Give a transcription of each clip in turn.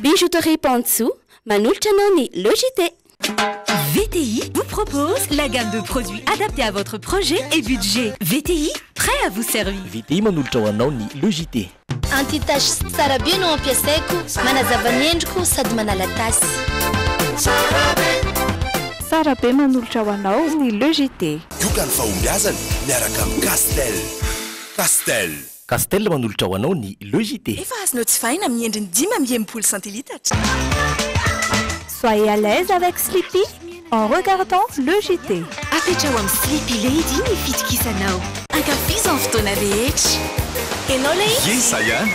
Bijouterie Pantsou manolotra anao ny Le JT. VTI vous propose la gamme de produits adaptée à votre projet et budget. VTI, prêt à vous servir. VTI manolotra ho anao ny Le JT. Anti-taches tsara be no ampiasaiko, manazava ny endriko sady manala tasy. Tsara be manolotra ho anao ny Le JT. Yoga ny fahombiazana miaraka amin'ny Castel. Castel. Castel manolotra ho anao ny Le JT. Efa azonao jifaina amin'ny endriny dimy amby enimpolo centilitres. Soyez à l'aise avec Sleepy en regardant Le JT. Afetra ao amin'ny Sleepy Lady ny fitokisanao. Ankafizo amin'ny fotoana rehetra. Enao le izy? Ie zay an!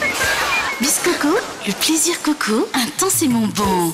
Misy coco, le plaisir coco, intensément bon.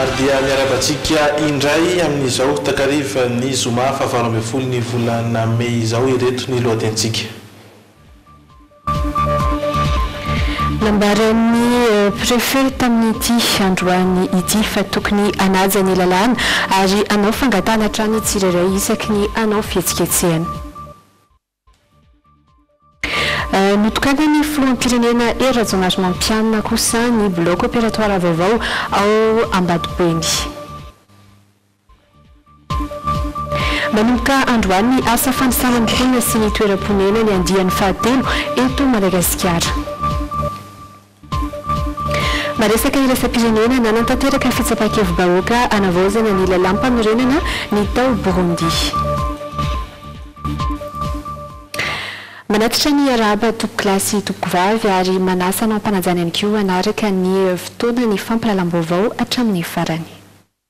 Ary dia miarabantsika indray amin'izao takariva ny zoma faha valo ambin'ny folo ny volana mey izao ireto ny lohatenintsika. Nambaran'ny Préfet tamin'ity androany ity fa tokony hanaja ny lalàna ary hanao fangatahana hatrany ny tsirairay isaky ny hanao fihetsiketsehana. Notokanan'ny filoham-pirenena Hery Rajaonarimampianina kosa ny bloc opératoire vaovao ao Ambatoboeny. Manomboka androany ny asa fanisana ny mponina sy ny toeram-ponenany andiany fahatelo eto Madagasikara. Maresaka iraisam-pirenena, Nanatanteraka fitsapan-kevi-bahoaka hanavaozana ny lalàmpanorenana ny tao Burundi. Manatitra ny arahaba tompokolahy sy tompokovavy ary manasa hanao am-panajana ihany koa hanaraka ny fotoana ny fampahalalam-baovao hatramin'ny farany.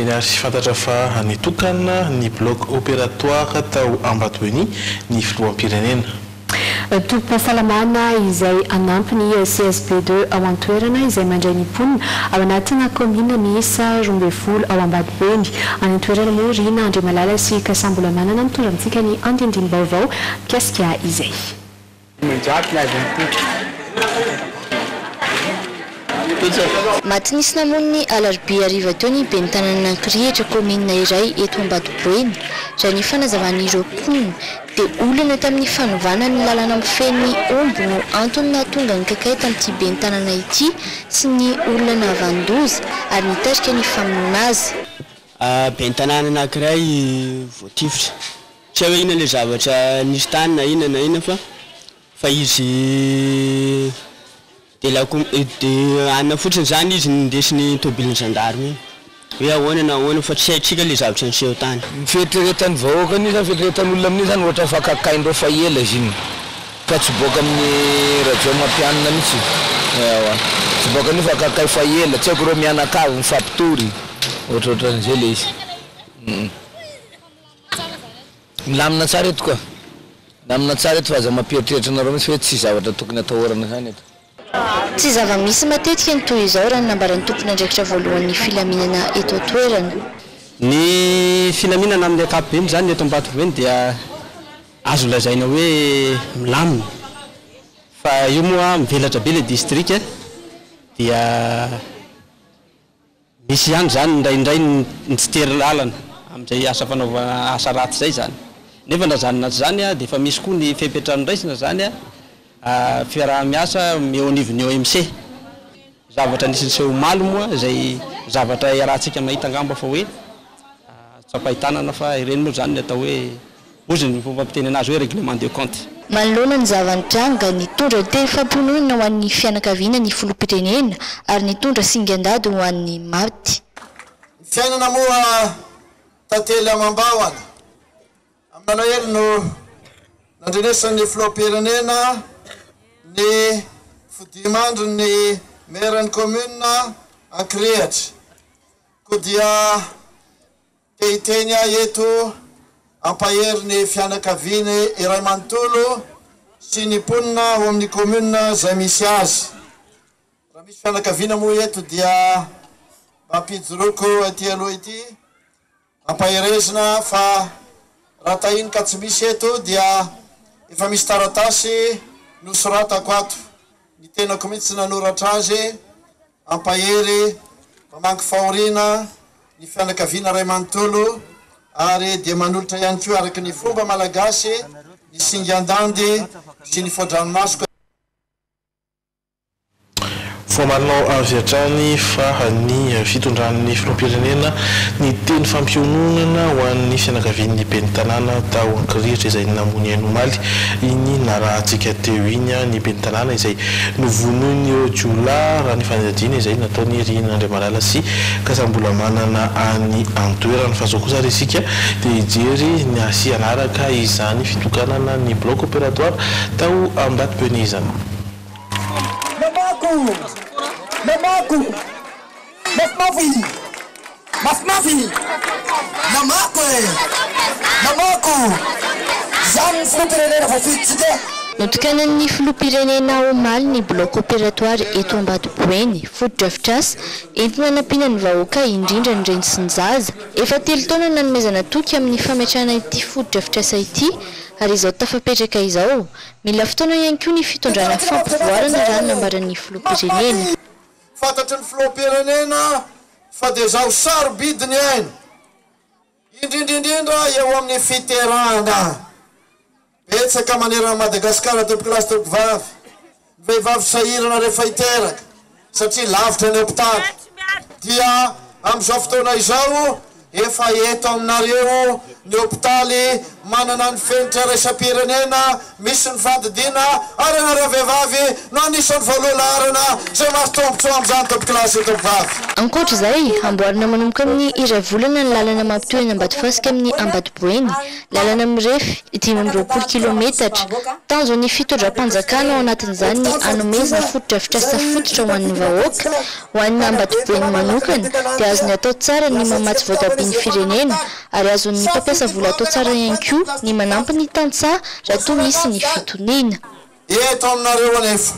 Eny ary fantatra fa nitokana ny bloc opératoire tao Ambatoheny ny filoham-pirenena. Tobim-pahasalamana izay hanampy ny CSB deux ao an-toerana izay mandray ny mponina ao anatina kaominina miisa roa ambin'ny folo ao Ambatoheny any an-toerana moa Rina Andriamalala sy Kasambola Manana mitondra amintsika ny andindim-baovao mikasika izay. Manjary ny azon'ny Tompo. Maty nisy namono ny alarobia hariva teo ny ben'ny tanànan'Ankirihitra, kaominina iray eto Ambatoboeny, raha ny fanazavan'ireo mponina, dia olana tamin'ny fanovana ny lalana mifehy ny omby no antony nahatonga ny kakay tamin'ity ben'ny tanàna ity sy ny olona nahavan-doza ary nitarika ny famonoana azy. Ben'ny tanàna anankiray voatifitra. Tsy hay hoe inona ilay zavatra nisy tany na inona na inona fa fa izy dia lakom dia anona fotsiny izany izy nindesy ny tomobilin'ny zandary iny hoe ahoana na ahoana fa tsy haintsika ilay zavatra niseho tany. Ny fieritreretan'ny vahoaka amin'io izany fieritreretan'olona amin'io izany ohatra fa kakain-dreo fa ela izy iny fa tsy boaka amin'ny Rajaomampianina mihitsy ewa tsy boaka an'io fa kakay fa ela tsy haiko ireo mianakavy mifampitory ohatraohatran'izay ilay izy. Milamina tsara eto koa. Milamina tsara eto fa aza mampieritreritra anareo mihitsy hoe tsy zavatra tokony atahorana ihany eto. Tsy zava-misy matetika ny toy izao raha ny nambaran'ny tompon'andraikitra voalohan'ny filaminana eto an-toerana. Ny filaminana amin'ny ankapobeny izany eto Ambatovony dia azo lazaina hoe milamina fa io moa mivelatra be ilay distrika dia. Misy ihany izany indraindray ny tsy tery lalana amin'izay asa fanaovana asa ratsy izay izany. Nefa na izany na tsy izany dia efa misy koa ny fepetra noraisina izany fiaraha-miasa eo anivon'ny OMC. Zavatra anisan'ny seho omaly moa izay zavatra iarahantsika mahita angamba fa hoe tsapain-tanana fa ireny moa izany ny atao hoe. Hozy ny fomba fiteny anazy hoe règlement de compte. Manoloana ny zava-nitranga, nitondra tehifam-pinoana ho an'ny fianakaviana ny filoham-pirenena ary nitondra singan-dady ho an'ny maty. Ny fiainana moa tantely amam-bahona. Amin'ny nalahelo no nandrenesan'ny filoham-pirenena ny fodiman-dry ny Meran'ny Commune Ankirihatra. Koa dia. Te hiteny aho eto hampahery ny fianakaviany iray manontolo sy ny mponina ao amin'ny commune izay misy azy. Raha misy fianakaviana moa eto dia mba ampijoroako ety aloha ety ampaherezina fa raha tahiny ka tsy misy eto dia efa misy taratasy nosoratako ato, ny tenako mihitsy nanoratra azy. Ampahery, mpamangy fahoriana ny fianakaviana iray manontolo ary dia manolotra ihany koa araka ny fomba malagasy ny singan-dandy sy ny foa-dranomaso ka. Vao manao avy hatrany fa ny fitondran'ny filoham-pirenena ny teny fampiononana ho an'ny fianakavian'ny ben'ny tanàna tao Ankirihitra izay namoy ny ainy omaly iny narahantsika teo iny ny ben'ny tanàna izay Novonoin'ireo jiolahy, raha ny fanadihadiana izay nataon'i Irina Andriamalala sy Kasambolamanana any an-toerana. Fa izao kosa ary isika dia hijery ny hasian'araka izany fitokanana ny bloc opératoire tao Ambatobenizana. Mafimafy i! Mafimafy i! Namako e! Namako! Izany ny filoham-pirenena voafidintsika! Notokanan'ny filoham-pirenena omaly ny bloc opératoire eto Ambatoboeny, fotodrafitrasa entina hanampiana ny vahoaka indrindra ny reny sy ny zaza. Efa telo taona nanomezana toky amin'ny fametrahana ity fotodrafitrasa ity ary izao tafapetraka izao. Mila fotoana ihany koa ny fitondrana fampivoarana raha ny nambaran'ny filoham-pirenena. Fantatry ny Filoham-pirenena fa dia izao sarobidy ny aina, indrindra indrindra eo amin'ny fiterahana. Betsaka manerana an'i Madagasikara, tompokolahy sy tompokovavy, ny vehivavy sahirana rehefa hiteraka satria lavitra ny hopitaly. Dia amin'izao fotoana izao Efa eto aminareo ny hopitaly manana ny fenitra iraisam-pirenena misy ny fandidiana ara-nara vehivavy no anisan'ny voaloha laharana izay mahazo tombotsoa amin'izany Tobkilasy io tovovavy. Ankoatra izay, hamboarina manomboka amin'ny iray volana ny lalana mampitohy an'i Ambatofasika amin'ny Ambatoboeny, lalana mirefy dimy amby roapolo kilaometatra. Tanjon'ny fitondram-panjakana ao anatin'izany ny hanomezana fotodrafitrasa fototra ho an'ny vahoaka, Ho an'ny Ambatoben'ny manokana dia azony atao tsara ny mamatsy voatabia ny firenena ary azon'ny mpampiasa vola atao tsara ihany koa ny manampy ny tantsaha raha toa misy ny fitoniana. Eto aminareo anefa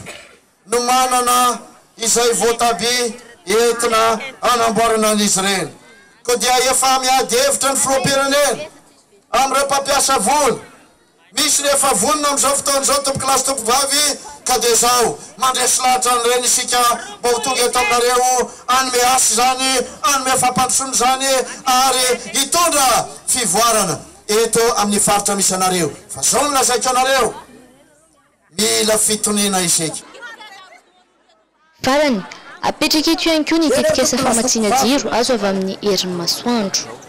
no manana izay voatabia entina hanamboarana an'izy ireny koa dia efa miady hevitra ny filoham-pirenena amin'ireo mpampiasa vola. Misy ny efa vonona amin'izao fotoana izao tompokolahy sy tompovavy ka dia izao mandresy lahatra an'ireny isika mba ho tonga eto aminareo hanome asa izany, hanome fampandrosoana izany ary hitondra fivoarana eto amin'ny faritra misy anareo fa izao no lazaiko anareo, mila fitoniana isika. Farany, apetraka eto ihany koa ny tetikasa famatsiana jiro azo avy amin'ny herin'ny masoandro.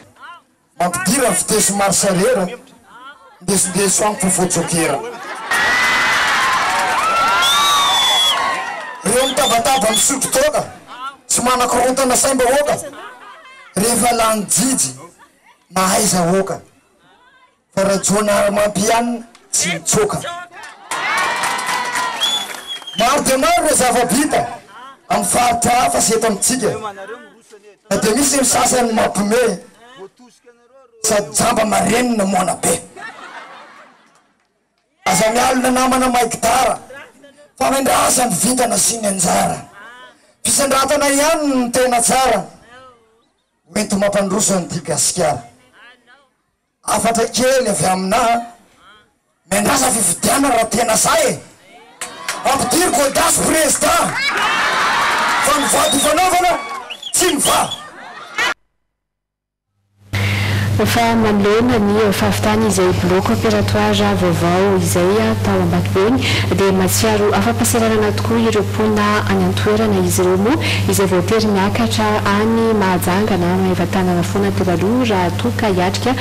Mampidira ny vitesy ny marche arrière, ndesindeso any kofo jokera. Reo mitabataba misotro toaka, tsy manakorontana saim-bahoaka, rehefa lany jijy mahaiza hoaka, fa rajoanarimamp ihany tsy mitsoaka. Maro dia maro reo zava-bita, am faritra hafa sy eto amitsika. Fa dia misy ny sasany mampiomehy sady jamba marenina moana be. Aza mialona namana mahay gitara fa mendrasa ny vintana sy ny anjara. Fisandratana ihany no tena tsara ho enti-mampandroso an'ity Gasikara. Hafatra kely avy aminà miandrasa fifidianana raha tena sahy e! Ampidiriko audace prezidà fa ny vady ifanaovana tsy mivaha. Efa manoloana ny fahavitany izay bloc opératoire vaovao izay tao Ambatobe iny dia mahatsiaro afa-pahasahiranana Hoy ireo mponina any an-toerana, izy ireo moa izay voatery niakatra any Mahajanga na Maevatanana foana teo aloha raha toa ka hiatrika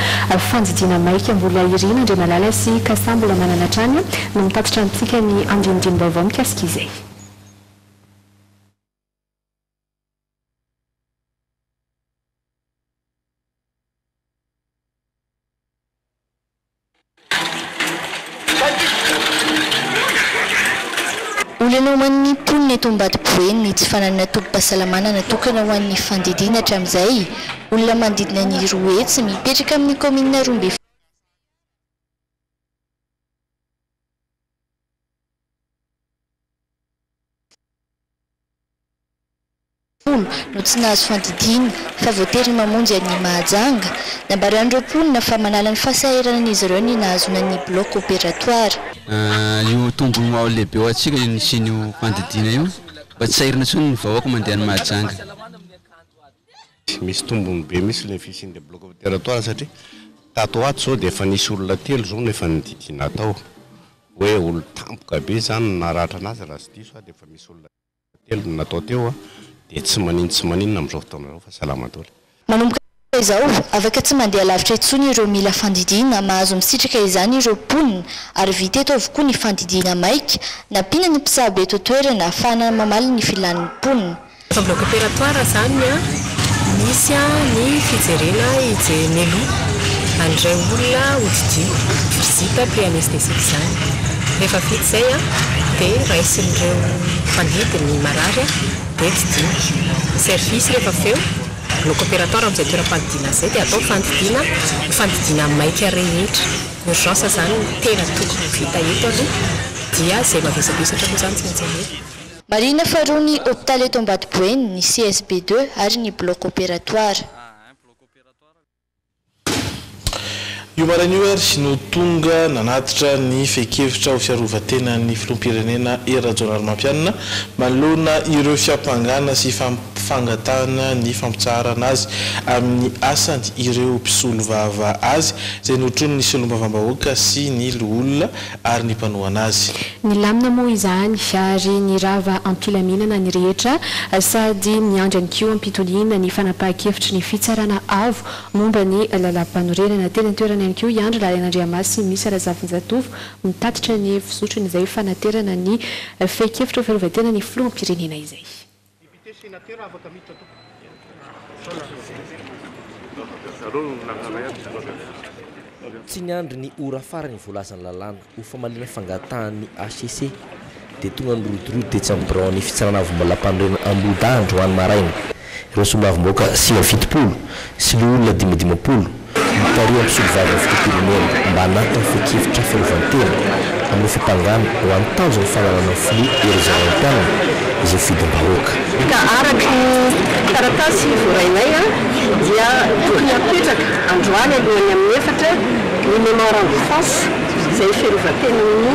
fandidiana maika mbola iry Nandriamalala sy Kasa mbola manana hatrany no mitatitra amintsika ny andinindini-baovao mikasika izay. Olana ho an'ny mponina eto Ambatoboeny ny tsy fananana tobim-pahasalamana natokana ho an'ny fandidiana hatramin'izay. Olona manodidina ny roa hetsy, mipetraka amin'ny kaominina Roa ambin'ny folo, folo no tsy nahazo fandidiana fa voatery mamonjy an'i Mahajanga. Nambaran'ireo mponina fa manala ny fahasahiranan'izy ireo ny nahazoana ny bloc opératoire. Io tombony ho ao lehibe ho antsika io nisian'io fandidiana io mba tsy sahirana intsony ny vahoaka mandeha any Mahajanga. Misy tombony be mihitsy ilay fisian' ilay bloc opératoire satria tato ho ato izao dia efa nisy olona telo izao no efa nididiana tao hoe olon-tampoka be izany no naratra an'azy raha tsy diso aho dia efa misy olona telo no natao teo dia tsy manin tsy maninona amin'izao fotoana izao fa salama daholo. Manomboka izao, afaka tsy mandeha lavitra intsony ireo mila fandidiana, mahazo misitraka izany ireo mponina ary vita eto avokoa ny fandidiana maika, nampiana ny mpisabo eto an-toerana ahafahana mamaly ny filan'ny mponina. Efa bloc opératoire izany an! Misy an ny fijerena i Jnelou an'ireo olona hodidio vizita pré anesthésique izany. Rehefa vita izay an! dia raisin'ireo mpandidy ny marary an! dia didio. Service rehefa avy eo, bloc opératoire amin'izay toeram-pandidiana izay dia atao fandidiana, ny fandidiana maika rehetra. Urgence izany no tena tokony ho vita eto aloha dia izay mavesabesatra aloha izany tsy maintsy alefa. Marihina faharoa ny hopitaly eto Ambatoboeny, ny CSB deux ary ny bloc opératoire. Io maraina io ary no tonga nanatitra ny fehin-kevitra ho fiarovan-tenan'ny Filoham-pirenena Hery Rajaonarimampianina manoloana ireo fiampangana sy fangatahana ny fampitsaharana azy amin'ny asany ireo mpisolovava azy izay notronin'ny Solombavambahoaka sy ny Loholona ary ny mpanohana azy. Nilamina moa izany ary nirava am-pilaminana ny rehetra sady niandry ihany koa am-pitoniana ny fanapahan-kevitry ny Fitsarana Avo momba ny Lalàmpanorenana. Teny an-toerana ihany koa i Andry Lalainandriamasy sy i Misa Razafinjatovo mitatitra ny fizotrony izay fanaterana ny fehin-kevitr'ho fiarovan-tena ny Filoham-pirenena izay. Député, Sénateur afaka miditra tompoko. Tsy niandry ny ora farany voalazan'ny lalàna ho famaliana fangatahan'ny HCC dia tonga nirodorodo tetsy amin'ny biraon'ny Fitsarana Avomalapanorenana Ambohidahy androany maraina ireo soloavim-bahoaka sivy amby fitopolo sy loholona dimy dimampolo, Mitarika ny solovalin'ny filoham-pirenena mba hanatona fehin-kevitra fiarovan-tena amin'ny fiampangana ho an'ny tanjon'ny fananana ny filoha Hery Jaroamitianina izay fidim-bahoaka. Ka araka ny taratasy voarainay dia tokony hapetraka androany alohan'ny amin'ny efatra ny memorandum fas izay fiarovan-tenan'ny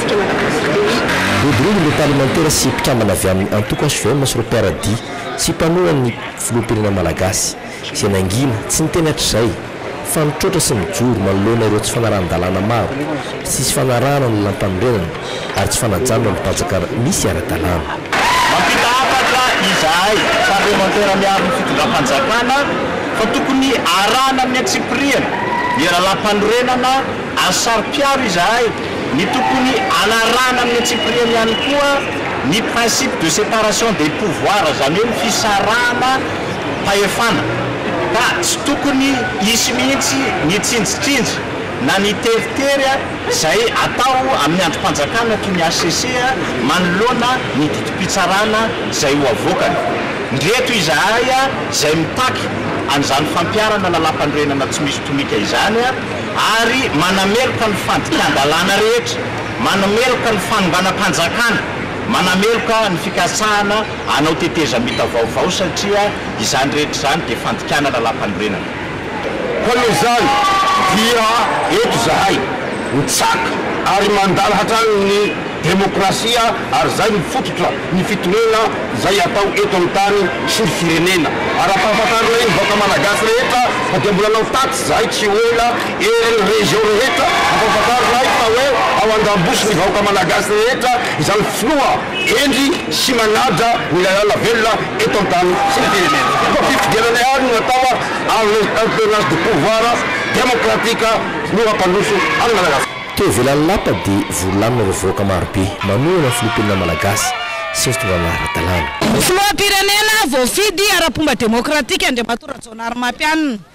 Rodorodo ireo parlemantera sy mpikambana avy amin'ny antoko hvm sy ireo mpiara-dia tsy mpanohan'ny filoham-pirenena malagasy, izay nangina, tsy niteny hatrizay, fa nitroatra sy mijoro manoloana ireo tsy fanarahan-dalàna maro, tsy nisy fanarahana ny lalampanorenana ary tsy fanajana ny pajaka misy ara-dalàna. Mampita hafatra izahay parlemantera miaro ny fitondram-panjakana fa tokony arahana amin'ny antsipirihany ny lalampanorenana ary saro-piaro izahay ny tokony hanarahana amin'ny antsipiriany ihany koa ny principe de séparation des pouvoirs, izany hoe ny fisarahana fahefana, ka tsy tokony hisy mihitsy ny tsinjitsinja na ny teritery izay atao amin'ny andrim-panjakana toy ny hcc manoloana ny didim-pitsarana izay ho avoakany. Ndreto izahay izay mitaky an'izany fampiharana lalàmpanorenana tsy misy tomika izany, ary manameloka ny fandikan-dalàna rehetra, manameloka ny fanonganam-panjakana, manameloka ny fikasahana hanao tetezamita vaovao satria izany rehetra izany dia fandikanana lampanorenana. Koa noho izany dia eto izahay mitsaka ary mandala hatrany ny demokrasia ary izay no fototra ny fitoriana izay atao eto amin'ny tany sy ny firenena. Ary ampahafantarina iny vahoaka malagasy rehetra fa dia mbola anao tatsy. Zay tsy ho ela eran'ny région rehetra ampahafantarina ahy fa hoe ao andambosi ny vahoaka malagasy rehetra izany filoha hendry sy manadra ny lalàna velona eto antany sy ny firenena koa fifidianana ihany no atao ary le alternance de pouvoir démocratique no hampandroso an'i Madagascar. Teo ivelan'ny lapa dia vory lamina ireo vahoaka marobe manohana ny filoham-pirenena malagasy sy ny fitondrana ara-dalàna. Filoham-pirenena voafidy ara-pomba demokratika Andriamatoa Rajaonarimampianina.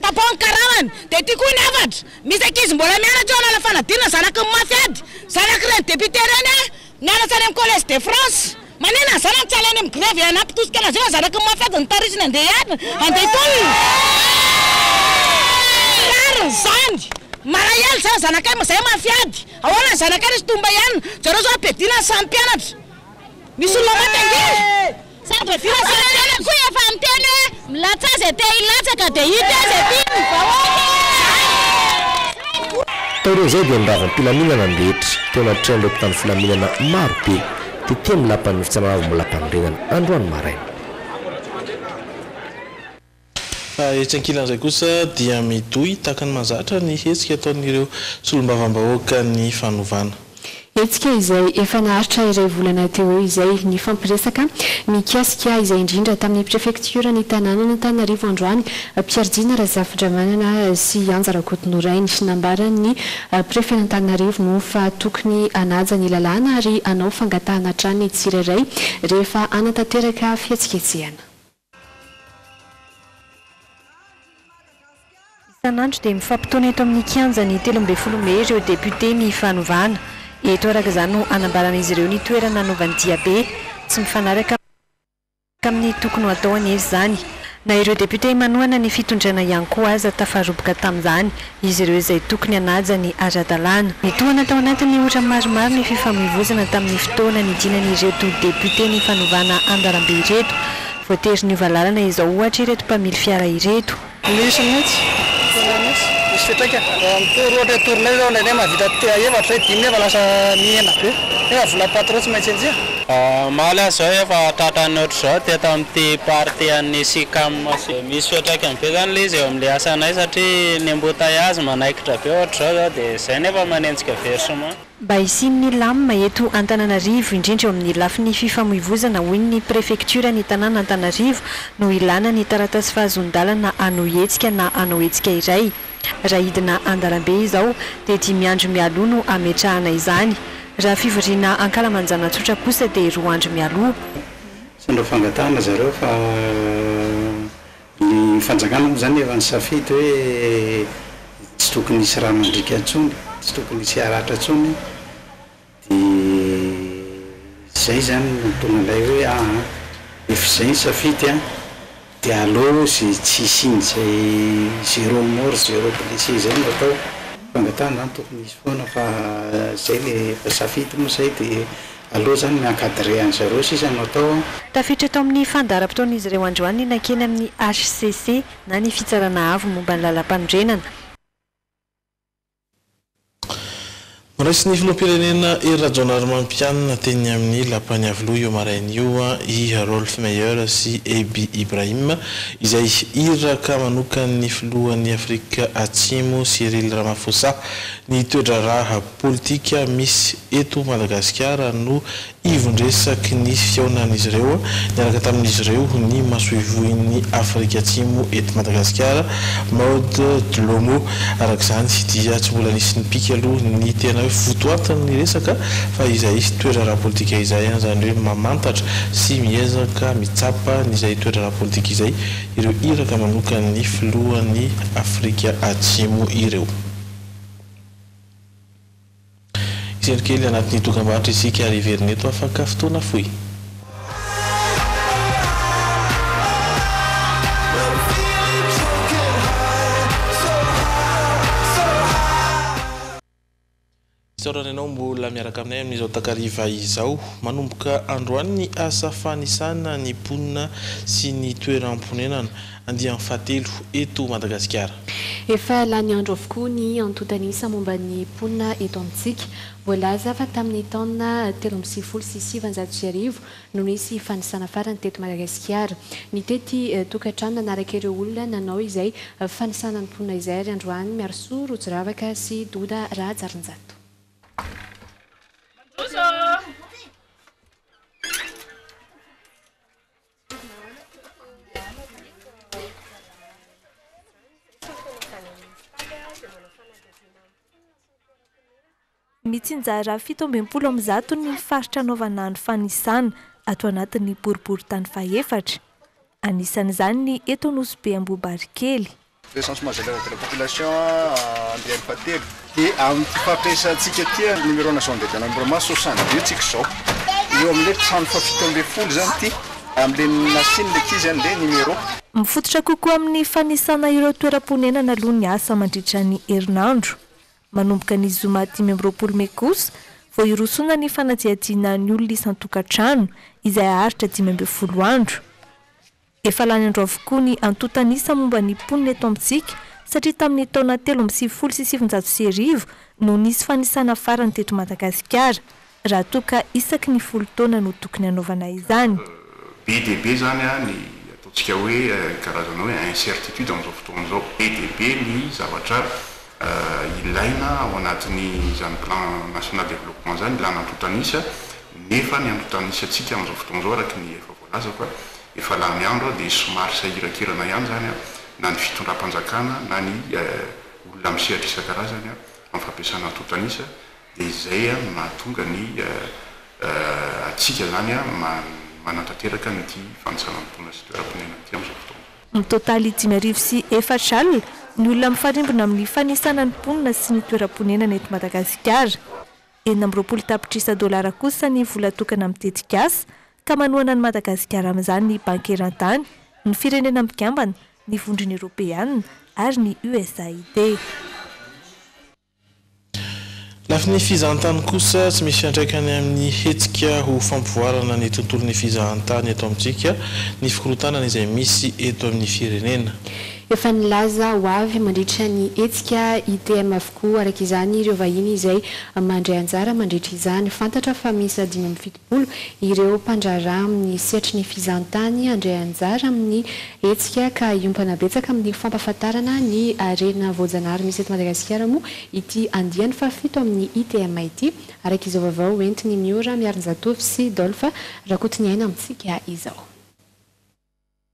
Tapaho ny karamany dia ity koa ny hafatra, misy ankizy mbola mianatra eo hanala fanadinana zanaky ny mafy ady, zanak'ireny député ireny aho, nianatra any amin'ny collège de France, manina ny zanany tsy hala any amin'ny grevy hanampy tosika an'azy eo ny zanaky ny mafy ady notarisiny handeha hiadana, handeha hitolona, tsy rariny izany, malahelo izany zanakay moa izay mafy ady, ahoana ny zanakay nisy tomba ihany, zareo izao ampiadiana ny samy mpianatra, misy olona maty ange. Sambatra filasan-tena koa efa niteny hoe milatsaha izay te hilatsaka dia hita eo izay tian'ny vahoaka e! Taorian'izay dia ny ravam-pilaminana ny rehetra teo anatrehan'ireo mpitandro filaminana maro be tetỳ amin'ny Lapan'ny Fitsarana Avo Molapanorenana androany maraina. Fa etsy ankilan'izay kosa dia midoy tahaka ny mahazatra ny hetsika ataon'ireo solombavambahoakan'ny fanovana. Hetsika izay efa naharitra iray volana teo eo izay nifampiresaka mikasika izay indrindra tamin'ny prefektioran'ny tanànan'Antananarivo androany, Pierre Jina Razafindramanana sy Anja Rakotonorainy. Nambaran'ny prefen'Antananarivo moa fa tokony hanaja ny lalàna ary hanao fangatahana hatrany ny tsirairay rehefa hanatanteraka fihetsiketsehana. Isan'andro dia mifampitaona eto amin'ny kianjan'ny telo ambin'ny folo mey ireo depiote ny fanovana. Eto araka izany no anambaran'izy ireo ny toerana anaovany diabe. Tsy mifanaraka amin'ny tokony ho atao anefa izany. Na ireo depiote manohana ny fitondrana ihany koa aza tafaroboka tamin'izany. izy ireo izay tokony hanaja ny ara-dalàna. Nitohana tao anatin'ny ora maromaro ny fifamoivoizana tamin'ny fotoana nidinan'ireto depiote ny fanovana andalambe ireto. Voatery niova lalana izao ohatra ireto mpamily fiara ireto. Misy mihitsy, tena misy, misy fiantraikany. Raha mitory ohatra hoe tournée zao indraindray mahavita te- efatra hoe dimy nefa lasa mihena be nefa volan'ny patron tsy maintsy enjeha. Omaly aho izao efa tratra ny ohatr'izao teto amin'ity partie an'ny Sicam sy. Misy fiantraikany be zany le izy eo amle asanay satria ny embouteillages manaikitra be ohatr'izao zao de zay nefa manenjika versement. Mba hisian'ny lam eto Antananarivo indrindra eo amin'ny lafiny fifamoivozana hoy ny prefektioran'ny tanàna Antanarivo no ilàna ny taratasy fahazoan-dalana hanao hetsika na hanao hetsika iray. Raha hidina an-dalambe izao dia dimy andro mialoha no hametrahana izany. Raha fivoriana ankalamanjana tsotra kosa dia roa andro mialoha. Sendra fangatahana zareo fa ny fanjakana moa zany efa nisafidy hoe tsy tokony hisy rà mandriaka intsony, tsy tokony hisy haratra intsony de zay zany no tonga an'ilay hoe aa efa izay ny safidy an! Dia aleo izay tsy hisian' izay zero mort zero blessé izay no atao. Fangatahana izany tokony hisy foana fa izay le efa safidy moa izay dia aleo izany mi encadrer an' zareo sisa no atao an. Tafiditra tao amin'ny fandaharam-potoan'izy ireo androany ny nankeny amin'ny hcc na ny Fitsarana Avo momba ny Lalampanorenana. Noraisin' ny filoham-pirenena Hery Rajaonarimampianina teny amin'ny Lapan'i Iavoloha io maraina io i Rolf Meyer sy Eby Ibrahim, izay iraka manokan'ny filohan'i Afrika Atsimo Cyril Ramaphosa. Ny toe-draharaha politika misy eto Madagasikara no Ivon-dresaky ny fihaonan'izy ireo niaraka tamin'izy ireo ny masoivohon'i Afrika Atsimo eto Madagasikara, Maud Dlomo. Araka izany dia tsy mbola nisy nipika aloha ny tena hoe votoatin'ny resaka fa izay toetra ara-politika izay, izany hoe mamantatra sy miezaka mitsapa izay toetra ara-politika izay ireo iraka manokan'ny filohan'i Afrika Atsimo ireo. Isento kely anatin'ny dokambarotra isika ary hiverina eto afaka fotoana fohy. Isaorana ianao mbola miaraka aminay amin'izao takariva izao. Manomboka androany ny asa fanisana ny mponina sy ny toeram-ponenana. Andiany fahatelo eto Madagasikara. Efa lany andro avokoa ny antontanisa momba ny mponina eto amintsika. Voalaza fa tamin'ny taona telo amby sivifolo sy sivanjato sy arivo no nisy fanisana farany teto Madagasikara. Nitety tokantrano nanaraka ireo olona nanao izay fanisana ny mponina izay ary androany Miarisoa Rojoravaka sy Doda Rahajarinjato. Mitsinjara fito ambin'ny folo amin'ny zato ny faritra anaovana ny fanisana ato anatin'ny boriborintany fahefatra. Anisan'izany ny eto Nosy be Ambohibarikely. Recensement général de la population andiany fahatelo. Dia amin'ity fampiresantsika ity ary numéro national de dénombrement soixante deux tsika izao. Eo amin'ilay trano fahafito ambin'ny folo izany ity, amin'ilay nasian'ilay ankizy any ilay numéro. Mifototra kokoa amin'ny fanisana ireo toeram-ponenana aloha ny asa mandritra ny herinandro. Manomboka ny zoma dimy amby roapolo mey kosa vao hirosoana ny fanadihadiana ny olona isan-tokantrano, izay haharitra dimy ambin'ny folo andro. Efa lany andro avokoa ny antontan'isa momba ny mponina eto amintsika satria tamin'ny taona telo amby sivifolo sy sivinjato sy arivo no nisy fanisana farany teto Madagasikara raha toa ka isaky ny folo taona no tokony hanaovana izany. Be dia be izany ny ataontsika hoe karazana hoe incertitude amin'izao fotoana izao. Be dia be ny zavatra ilaina ao anatin'izany plan national developpement izany, ilana antontan'isa, nefa ny antontan'isantsika amin'izao fotoana izao araka ny efa voalaza. aza fa efa lany andro aho dia somary sahiran-kerana ihany izany an, na ny fitondram-panjakana na ny olona amin'ny sehatra isan-karazany amin'ny fampiasana antontan'isa dia izay no mahatonga ny antsika izany manantanteraka an'ity fanisana ny mponina sy toeram-ponenana ity amin'izao fotoana izao. Ny totaly dimy arivo sy efatra alina ny olona mifarimbona amin'ny fanisana ny mponina sy ny toeram-ponenana eto Madagasikara. Enina amby roapolo tapitrisa dolara kosa ny vola tokana amin'ny tetikasa ka manohana an'i Madagasikara amin'izany ny Banky Eran-tany, ny Firenena Mikambana, ny Vondrona Eoropeanina ary ny USAID. Lafiny fizahantany kosa, tsy misy fiantraikany amin'ny hetsika ho fampivoarana ny tontolon'ny fizahantany eto amintsika ny fikorontanana izay misy eto amin'ny firenena. Efa nilaza ho avy mandritra ny hetsika ITM avokoa araka izany ireo vahiny izay mandray anjara mandritra izany. Fantatra fa miisa dimy amby fitopolo Olo, ireo mpandraharaha amin'ny sehatry ny fizahantany handray anjara amin'ny hetsika ka hiompana betsaka amin'ny fampahafantarana ny harena voajanahary misy eto Madagasikara moa ity andiany fahafito amin'ny ITM ity, araka izao vaovao ho entin'i Miora Miarinjatovo sy Dolph Rakotoniaina amintsika izao.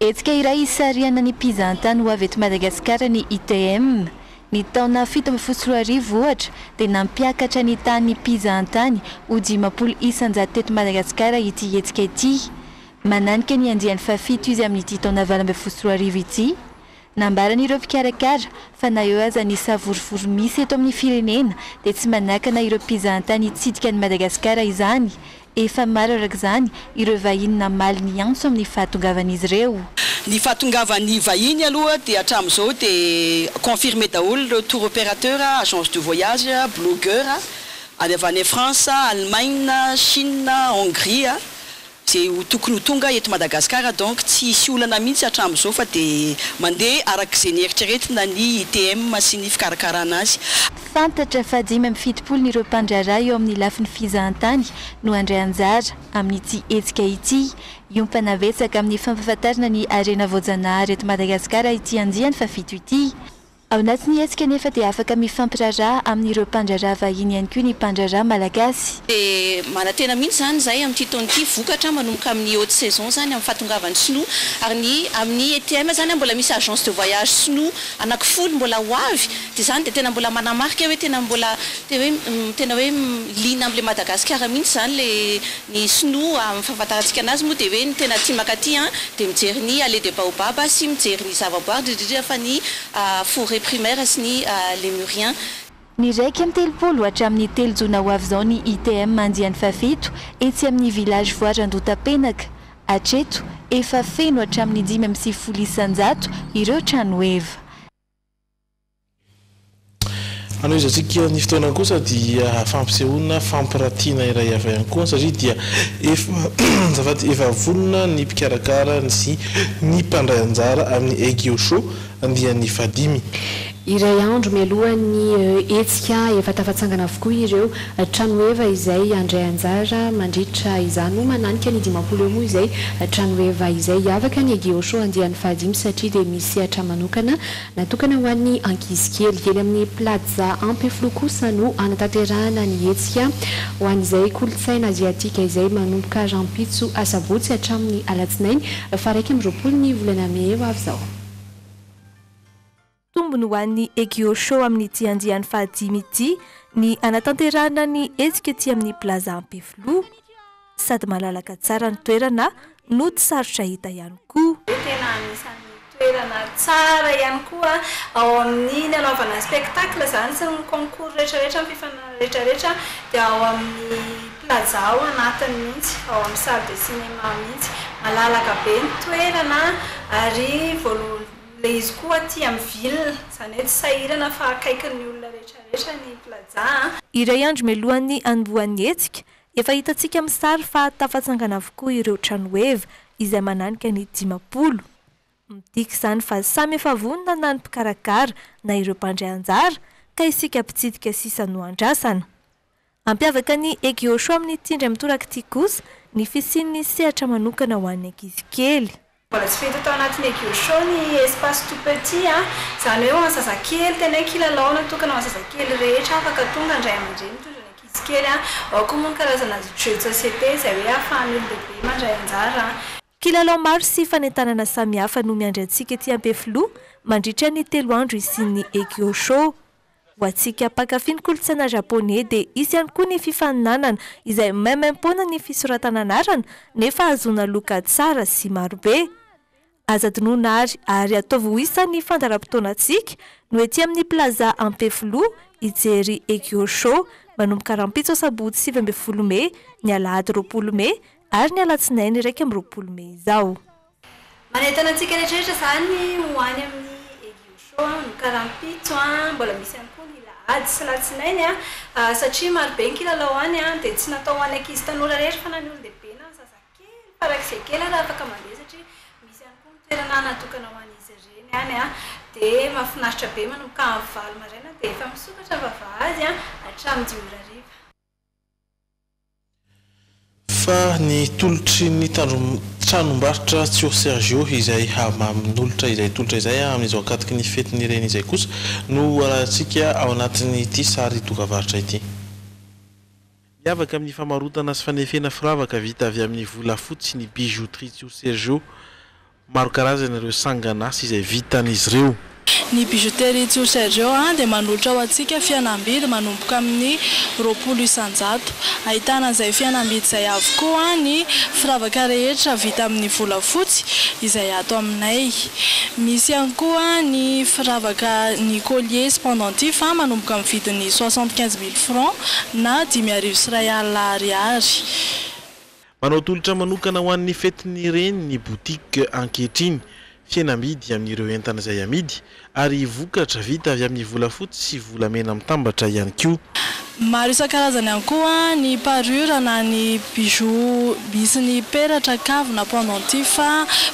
Hetsika iray hisarihana ny mpizahantany ho avy eto Madagasikara ny ITM. Ny taona fito ambin'ny folo sy roa arivo, ohatra, dia nampiakatra ny tahan'ny mpizahantany ho dimampolo isan-jato teto Madagasikara ity hetsika ity. Mananika ny andiany fahafito izy amin'ity taona valo ambin'ny folo sy roa arivo ity. Nambaran'ireo mpikarakara fa na eo aza ny savorovoro misy eto amin'ny firenena dia tsy manakana ireo mpizahantany hitsidika an'i Madagasikara izany. Efa maro araka izany ireo vahiny namaly ny antso amin'ny fahatongavan'izy ireo. Ny fahatongavan'ny vahiny aloha dia hatramin'izao dia confirmé daholo ireo tour opérateur, agence de voyage, blogueur avy avy any France, Allemagne, Chine, Hongrie. Izay ho tokony ho tonga eto Madagasikara donc tsy hisy olana mihitsy hatramin'izao fa dia mandeha arak'izay nieritreretina ny ITM sy ny fikarakarana azy. Fantatra fa dimy amby fitopolo ny ireo mpandraharaha eo amin'ny lafiny fizahantany no handray anjara amin'ity hetsika ity. Hiompana betsaka amin'ny fampahafantarana ny harena voajanahary eto Madagasikara ity andiany fahafito ity. Ao anatin'ny hetsika anefa dia afaka mifampiraharaha amin'ireo mpandraharaha vahiny ihany koa ny mpandraharaha malagasy. Dia manantena mihitsy izany izahay amin'ity taona ity vokatra manomboka amin'ny haute saison izany amin'ny fahatongavan'ny sinoa ary ny amin'ny ETM izany mbola misy agence de voyage sinoa anakifolo mbola ho avy dia izany dia tena mbola manamarika hoe tena mbola tena hoe liana amin'ilay Madagasikara mihitsy izany ilay Ny sinoa amin'ny fahafantarantsika anazy moa dia hoe ny tena tia mankaty an dia mijery ny allée des baobabs sy mijery ny zavaboary indrindra indrindra fa ny forêt primaire sy ny lémuriens. Ny iraika amby telopolo hatramin'ny telo jona ho avy izao ny ITM andiany fahafito etsy amin'ny village voire Andotapenaka. Hatreto, efa feno hatramin'ny dimy amby sivifolo isan-jato ireo tranoheva. Hanohizantsika ny fotoana kosa dia fampisehoana fampiratiana iray hafa ihany koa satria dia efa azafady efa vonona ny mpikarakara sy ny mpandray anjara amin'ny Egio Show andiany fahadimy. Iray andro mialohan'ny hetsika efa tafatsangana avokoa ireo tranoheva izay handray anjara mandritra izany moa mananika ny dimampolo eo moa izay tranoheva izay hiavaka ny Egio Show andiany fahadimy satria dia misy sehatra manokana Natokana ho an'ny ankizy kely. Eny amin'ny Plaza Ampefiloha kosa no hanatanterahana ny hetsika ho an'izay kolontsaina aziatika izay manomboka rahampitso asabotsy hatramin'ny alatsinainy faharaika amby roapolo ny volana mey eo avy izao. Tombony ho an'ny Egio Show amin'ity andiany fahadimy ity ny hanatanterahana ny hetsika ety amin'ny Plaza Ampefiloha. sady malalaka tsara ny toerana no tsy sarotra hita ihany koa. Tena anisan'ny toerana tsara ihany koa ao amin'ny nanaovana spectacle izany sy ny concours rehetrarehetra, ny fifaninanana rehetrarehetra dia ao amin'ny plaza ao anatiny mihitsy, ao amin'ny salle de cinéma mihitsy. Malalaka be ny toerana ary voalo- ilay izy koa aty amin'ny ville, izany hoe tsy sahirana fa akaikin'ny olona rehetrarehetra ny plaza. Iray andro mialohan'ny hanombohan'ny hetsika Efa hitantsika amin'ny sary fa tafatsangana avokoa ireo tranoheva izay mananika ny dimampolo. Midika izany fa samy efa vonona na ny mpikarakara na ireo mpandray anjara ka isika mpitsidika sisa no andrasana. Hampiavaka ny Egeoshow amin'ny Tindry amin'ny Torak'ity kosa ny fisian'ny sehatra manokana ho an'ny ankizy kely. Mbola tsy vita tao anatin'ny Egyoshoo ny espace tout petit a, izany hoe ho an'ny zazakely, tena hoe kilalao natokana ho an'ny zazakely rehetra afaka tonga ny ray aman-dreny mitondra ny ankizy kely a, ao koa moa ny karazana jeux de société izay hoe ahafahan'ny olon-dehibe mandray anjara a. Kilalao maro sy fanentanana samihafa no miandry antsika ety Ampefiloha mandritra ny telo andro hisian'ny Egyoshoo. Ho antsika mpankafy ny kolontsaina Japoney dia hisy ihany koa ny fifaninanana izay maimaimpoana ny fisoratana anarana nefa hahazoana loka tsara sy marobe. Aza adinoina àry ary ataovy ho isan'ny fandaharam-potoanantsika no ety amin'ny Plaza Ampefiloha hijery Egyo Show manomboka rahampitso asabotsy sivy ambin'ny folo mey, ny alahady roapolo mey ary ny alatsinainy iraika amby roapolo mey izao. Manentana antsika rehetrarehetra izany ho any amin'ny Egio Show an, ny karampitso an, mbola misy ihany koa ny lahady sy latsinainy an, satria maro be ny kilalao any an, dia tsy natao ho an'ny ankizy tanora irery fa na ny olon-dehibe na ny zazakely farak'izay kely ary afaka mandeha satria misy ihany koa ny toerana natokana ho an'izy ireny any an, dia mahafinaritra be manomboka amin'ny valo maraina dia efa misokatra ny vavahady an, hatramin'ny dimy ora hariva. Fa ny tolotry ny tranombarotra Tio Sergio izay hamamin'olotra izay tolotra izay amin'izao ankatoky ny fetin'ny reny izay kosa no hoarahantsika ao anatin'ity sary dokavarotra ity. Miavaka amin'ny famarotana sy fanefena firavaka vita avy amin'ny volafotsy ny Bijouterie Tio Sergio Maro karazana ireo sangan'asa izay vitan'izy ireo. Ny Bijouterie Tso Sergio dia manolotra ho antsika fihenam-bidy manomboka amin'ny roapolo isan-jato. Ahitana an'izay fihenam-bidy izay avokoa ny firavaka rehetra vita amin'ny volafotsy izay ato aminay. Misy ihany koa ny firavaka, ny colliers sy pendentifs manomboka amin'ny vidin'ny soixante quinze mille francs na dimy arivo sy iray alina ariary. Manao tolotra manokana ho an'ny fetin'ny reny ny boutique ankehitriny. Fihenam-bidy amin'ireo entana izay amidy ary vokatra vita avy amin'ny volafotsy sy volamena mitambatra ihany koa. Maro isan-karazany ihany koa ny parure na ny bijoux misy ny peratra, kavina, pendentif,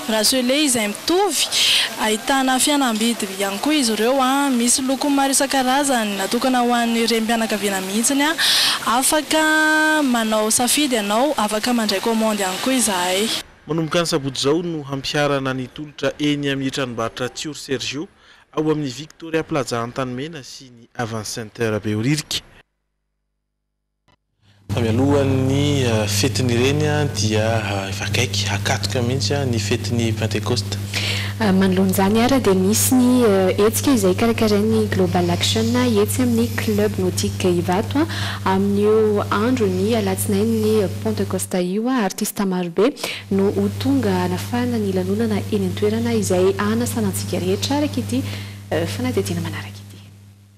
bracelet izay mitovy. Ahitana fihenam-bidy ihany koa izy ireo. Misy lokony maro isan-karazany natokana ho an'ny renim-pianakaviana. mihitsiny an! Afaka manao safidy ianao, afaka mandray commande ihany koa izahay. Manomboka ny sabotsy izao no hampiharana ny tolotra eny amin'ny tranombarotra Tiory Sergio ao amin'ny Victoria Plaza Antanimena sy ny Avance Center Behoririka. Fa mialoha ny fetin'ireny dia efa akaiky, hakatroka mihitsy ny fetin'ny Pentekosta. Manoloana izany ary dia misy ny hetsika izay karakarain'ny Global Action etsy amin'ny Club Nautique Ivato amin'io andron'ny alatsinain'ny Pentecosta io. Artista marobe no ho tonga hanafahana ny lanonana eny an-toerana izay hanasana antsika rehetra araka ity fanadihadiana manaraka ity.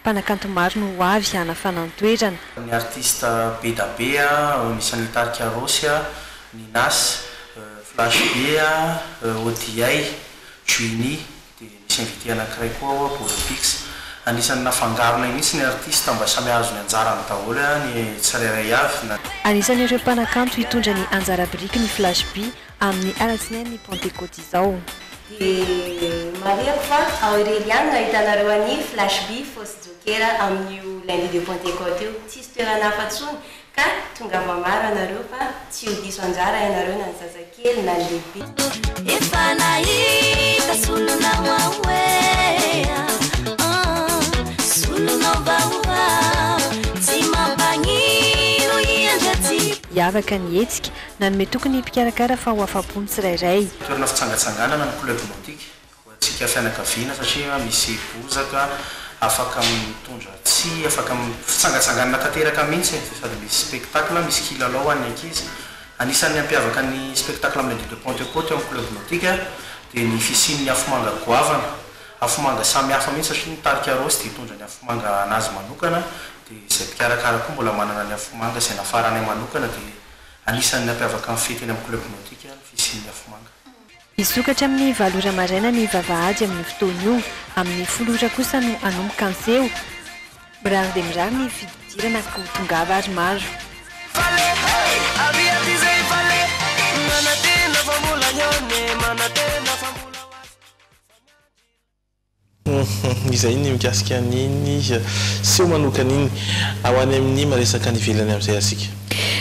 Mpanakanto maro no ho avy hanafana ny toerana. Ny artista Bedabe, ao anisan'ny Tarika Rossy, Ninas, Flash Be, Odiay, Juini, dia misy invité anankiray koa ao, Bolopix. Anisan'ny nafangaronay mihitsy ny artista mba samy hahazo ny anjarany daholo ny tsirairay avy. Anisan'ireo mpanakanto hitondra ny anjara biriky ny Flash Be. Amin'ny Alatsinain'ny Pantekoty izao. Dia marihako fa ao irery ihany no ahitanareo an'i Flashby Fotsy Jokera amin'io Lundi de Pantekoty io. Tsisy toerana hafa intsony ka tongava maro ianareo fa tsy ho diso anjara ianareo na ny zazakely na ny lehibe. Hiavaka ny hetsika Nanome toky ny mpikarakara fa ho afa-po ny tsirairay. Toerana fitsangatsanganana ny Club Nautique ho antsika fianakaviana satria misy bozaka afaka mitondra tsihy, afaka fitsangatsanganana tanteraka mihitsy e! Sady misy spectacle, misy kilalao ho an'ny ankizy. Anisan'ny hampiavaka ny spectacle amin'ny Nuit de Pentecôte eo amin'ny Club Nautique dia ny fisian'ny afomanga goavana. Afomanga samy hafa mihitsy satria ny tarika Rose dia hitondra ny afomanga anazy manokana dia izay mpikarakara koa mbola manana ny afomanga izay nafaranay manokana dia Anisan'ny nampiavaka ny fety eny amin'ny Club Nautique ny fisian'ny afomanga. Hisokatra amin'ny valo ora maraina ny vavahady amin'io fotoana io. Amin'ny folo ora kosa no hanomboka ny seho. Mirary dia mirary ny fididirana ko tongava ary maro. Humm izay ny mikasika an'iny seho manokana iny. Ho any amin'ny maresaka any ivelany amin'izay ary isika.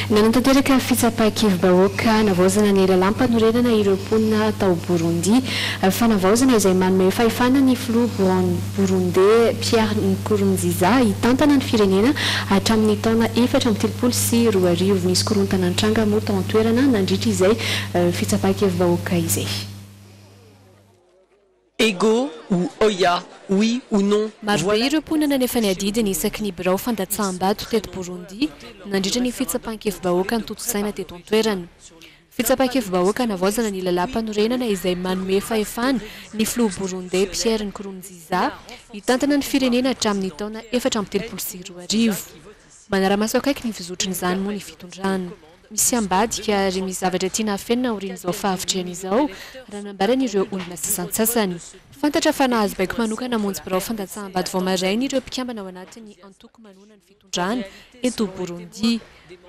Nanatanteraka fitsapan-kevi-bahoaka navaozana ny lalàmpanorenana ireo mponina tao Borondi. Fanavaozana izay manome fahefana ny filoha Boran Borondey Pierre Nkurunziza hitantana ny firenena hatramin'ny taona efatra amby telopolo sy roa arivo. Nisy korontana nitranga moa tao an-toerana nandritra izay fitsapan-kevi-bahoaka izay. Ego ou oia, oui ou non, Marobe ireo mponina nefa ny adidiny isaky ny birao fandatsaham-bato teto Burundi nandritra ny fitsapan-kevibahoaka notontosaina teto an-toerana. Fitsapan-kevibahoaka navaozana ny lalàmpanorenana izay manome fahefana ny filoha Burundey Pierre Nkurunziza hitantana ny firenena hatramin'ny taona efatra amby telopolo sy roa arivo. Manara-maso akaiky ny fizotran'izany moa ny fitondrana. Misy ambadika ary misy zavatra tiana hafenina aorian'izao fahavitrihana izao, raha nambaran'ireo olona sasantsasany. Fantatra fa nahazo baiko manokana hamonjy birao fandatsaham-bato vao maraina ireo mpikambana ao anatin'ny antoko manohana ny fitondrana eto Borondi.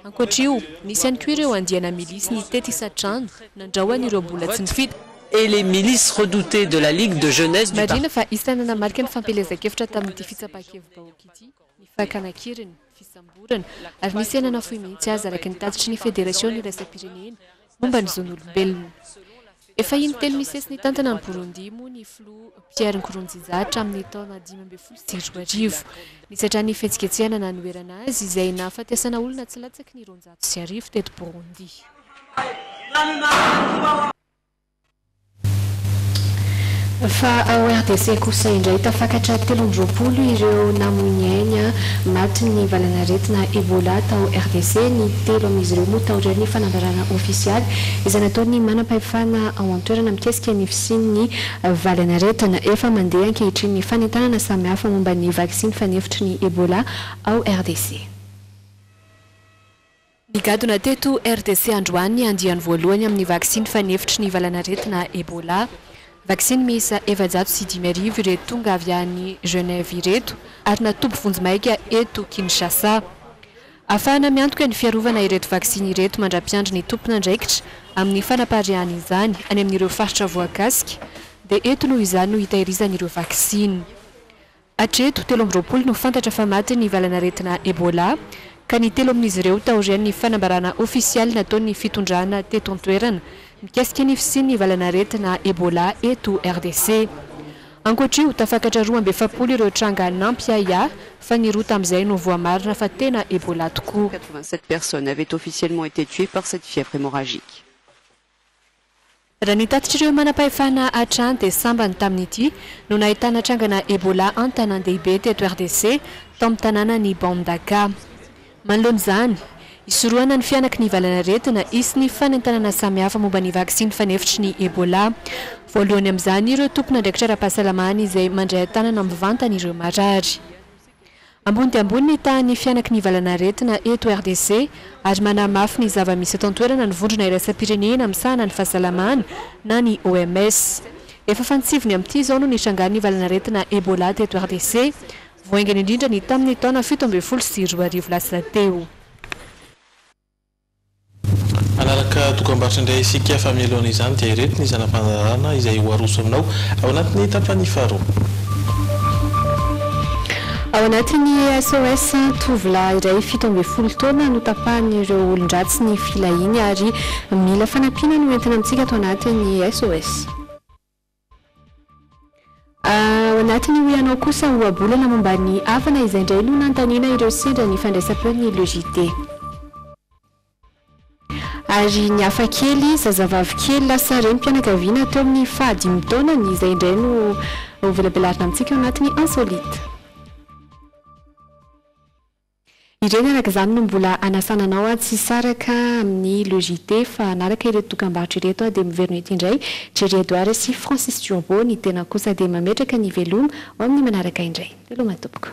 Ankoatra io, nisy ihany koa ireo andiana milisy nitety isan-trano nandrao an'ireo mbola tsy nifita. et les milices redoutées de la Ligue de jeunesse du parti. Marihina fa isan'ny nanamarika ny fampielezan-kevitra tamin'ity fitsapan-kevi-bahoaka ity ny fakana an-keriny. fisamborana, ary nisy aina nafoy mihitsy aza araka ny tatitry ny Federasiona iraisam-pirenena momba ny zon'olombelona. Efa in-telo misesy nitantana an'i Burundi moa ny Filoha Pierre Nkurunziza hatramin'ny taona dimy ambin'ny folo sy roa arivo, nisatra ny fihetsiketsehana nanoherana azy izay nahafatesana olona tsy latsaky ny roanjato sy arivo teto Burundi. Fa ao RDC kosa indray, tafakatra telo amby roapolo ireo namoy ny ainy matin'ny valanaretina Ebola tao RDC. Ny telo amin'izy ireo moa taorian'ny fanambarana ofisialy izay nataon'ny manampahefana ao an-toerana mikasika ny fisian'ny valanaretina. Efa mandeha ankehitriny ny fanentanana samihafa momba ny vaksiny fanefitry ny Ebola ao RDC. Nigadona teto RDC androany ny andiany voalohany amin'ny vaksiny fanefitry ny valanaretina Ebola. Vaksiny miisa efajato sy dimy arivo ireto tonga avy any Genève ireto ary natoby vonjimaika eto Kinshasa. Afahana miantoka ny fiarovana ireto vaksiny ireto mandra-piandry ny tompon'andraikitra amin'ny fanapariahana izany any amin'ireo faritra voakasika dia eto noho izany no hitahirizana ireo vaksiny Hatreto, telo amby roapolo no fantatra fa maty ny valan'aretina Ebola, ka ny telo amin'izy ireo taorian'ny fanambarana ofisialy nataon'ny fitondrana teto an-toerana mikasika ny fisian'ny valan'aretina Ebola eto RDC. Ankoatr'io, tafakatra roa amby efapolo ireo tranga nampiahiahy fa ny roa tamin'izay no voamarina fa tena Ebola tokoa. Raha ny tatitr'ireo manam-pahefana hatrany dia sambany tamin'ity no nahitana trangana Ebola an-tanàn-dehibe teto RDC, tao amin'ny tanànan'i Mbandaka. Manoloana izany, hisorohana ny fihanaky ny valanaretina, hisy ny fanentanana samihafa momba ny vaksiny fanefitry ny Ebola. Voalohany amin'izany ireo tompon'andraikitra ara-pahasalamana izay mandray an-tanana mivantana ireo marary. Ambony dia ambony ny tahan'ny fihanaky ny valanaretina eto RDC ary manamafy ny zava-misy eto an-toerana ny vondrona iraisam-pirenena misahana ny fahasalamana na ny OMS. Efa fantsiviny amin'ity izao no nitrangan'ny valanaretina Ebola teto RDC, vao haingana indrindra ny tamin'ny taona fito ambin'ny folo sy roa arivo lasa teo. Hanaraka dokam-barotra indray isika fa mialohan' izany dia ireto ny zana-pandaharana izay ho arosonao ao anatin'ny tapany faharoa. Ao anatin'ny SOS, tovolahy iray fito ambin'ny folo taona no tapahan'ireo olon-dratsy ny filahiany ary mila fanampiana no entina amintsika ato anatin'ny SOS. Ao anatin'ny Hoy Ianao kosa ohabolana momba ny havana izay indray no nanontaniana ireo sendra ny fandraisam-peon'ny Le JT. Ary ny hafa kely, zazavavy kely lasa renim-pianakaviana teo amin'ny faha dimy taonany izay indray no ho velabelarina amintsika ao anatin'ny Insolite. Ireny araka izany no mbola hanasana anao aho tsy hisaraka amin'ny Le JT fa hanaraka ireto dokambarotra ireto aho dia miverina eto indray, Jerry Edouard sy Francis Turbo, ny tenako kosa dia mametraka ny veloma ho amin'ny manaraka indray. Veloma tompoko.